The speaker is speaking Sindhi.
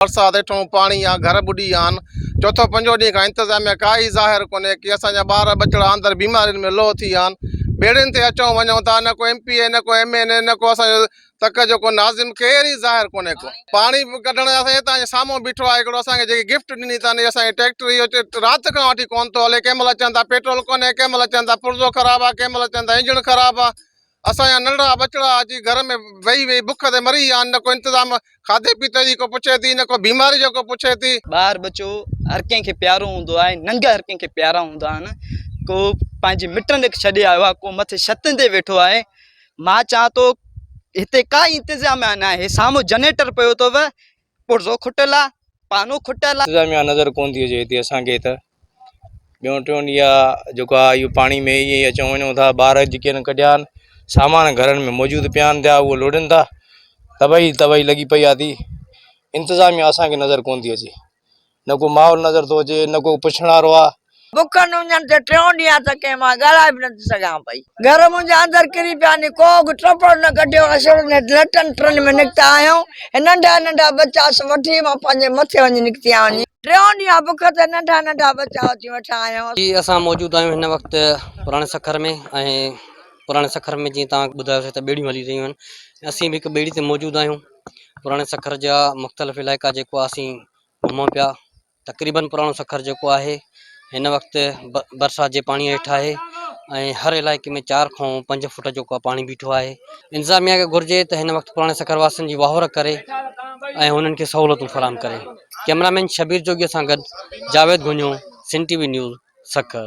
برسات هيٺون پاڻي يا گهر ٻڏي ويا آهن چوٿون پنجون ڏينهن کان انتظاميا ڪا ئي ظاهر ڪونهي ڪي اسان جا ٻار ٻچڙا اندر بيمارين ۾ لوهه ٿي ويا آهن ٻيڙين تي اچون وڃون ٿا نه ڪو ايم پي اي نه ڪو ايم اين اي نه ڪو اسان جو تڪ جو ڪو ناظم ڪير ئي ظاهر ڪونهي ڪو پاڻي ڪڍڻ اسان هتان جي سامهون بيٺو آهي هڪڙو اسان کي جيڪي گفٽ ڏني اٿن اسان جي ٽريڪٽر اهو رات کان وٺي ڪونه ٿو هلي ڪنهن مهل چون ٿا پيٽرول ڪونهي ڪنهن مهل چون ٿا پرزو خراب آهي ڪنهن مهل چون ٿا انجڻ خراب آهي اسان جا ننڍڙا ٻچڙا اڄ گهر ۾ ويهي ويهي بک تي مري ويا آهن، نه ڪو انتظام کاڌي پيتي جي ڪو پڇي ٿي نه ڪو بيماري جو ڪو پڇي ٿي. ٻار ٻچو هر ڪنهن کي پيارو هوندو آهي، ننگ هر ڪنهن کي پيارا هوندا آهن، ڪو پنهنجي مٽن کي ڇڏي آيو آهي، ڪو مٿي ڇتن تي ويٺو آهي، مان چوان ٿو هتي ڪا ئي انتظام ناهي، سامهون جنريٽر پيو اٿو پرزو کٽل آ پانو کٽل آ. انتظاميا نظر ڪون ٿي اچي هتي اسان کي ته ٻيون ٽيون ڏينهن آ جيڪو آ اهو پاڻي ۾ ائين اچون وڃون ٿا ٻار جيڪي ان ڪڍيا آهن سامان گهرن ۾ موجود پيا آهن پيا اهو لوڙين ٿا تباهي تباهي لڳي پئي آ ٿي انتظاميا اسان کي نظر ڪون ٿي اچي نه ڪو ماحول نظر ٿو اچي نه ڪو پڇڻ وارو آ. بکن اڃن تي ٽيون ڏينهن آ ته ڪنهن مان ڳالهائي به نٿي سگهان پئي. گهر منهنجا اندر ڪري پيا ني ڪو به ٽپڙ نه ڪڍيو اسڙ نيٺ لٽن ٽرن ۾ نڪتا آهيون ۽ ننڍا ننڍا ٻچا سڀ وٺي مان پنهنجي مٿي وڃي نڪتي آهيون ني ٽيون ڏينهن آ بک تي ننڍا ننڍا ٻچا اچي وٺان آهيون. جي اسان موجود آهيون هن وقت پراڻي سکر ۾ ۽ پراڻي سکر ۾ جيئن توهان کي ٻڌايو سي ته ٻيڙيون هلي رهيون آهن اسين به هڪ ٻيڙي تي موجود آهيون پراڻي سکر جا مختلف علائقا جيڪو آسين گهمون پيا تقريبن پراڻو سکر جيڪو آهي هن وقت برسات جي پاڻي هيٺ آهي ۽ هر علائقي ۾ چار کان پنج فوٽ جيڪو پاڻي بيٺو آهي انتظاميا کي گهرجي ته هن وقت پراڻي سکر واسن جي واهور ڪري ۽ هنن کي سهولتون فراهم ڪري ڪيمرامين شبير جوگي سان گڏ جاويد گهنيو Sindh T V news Sukkur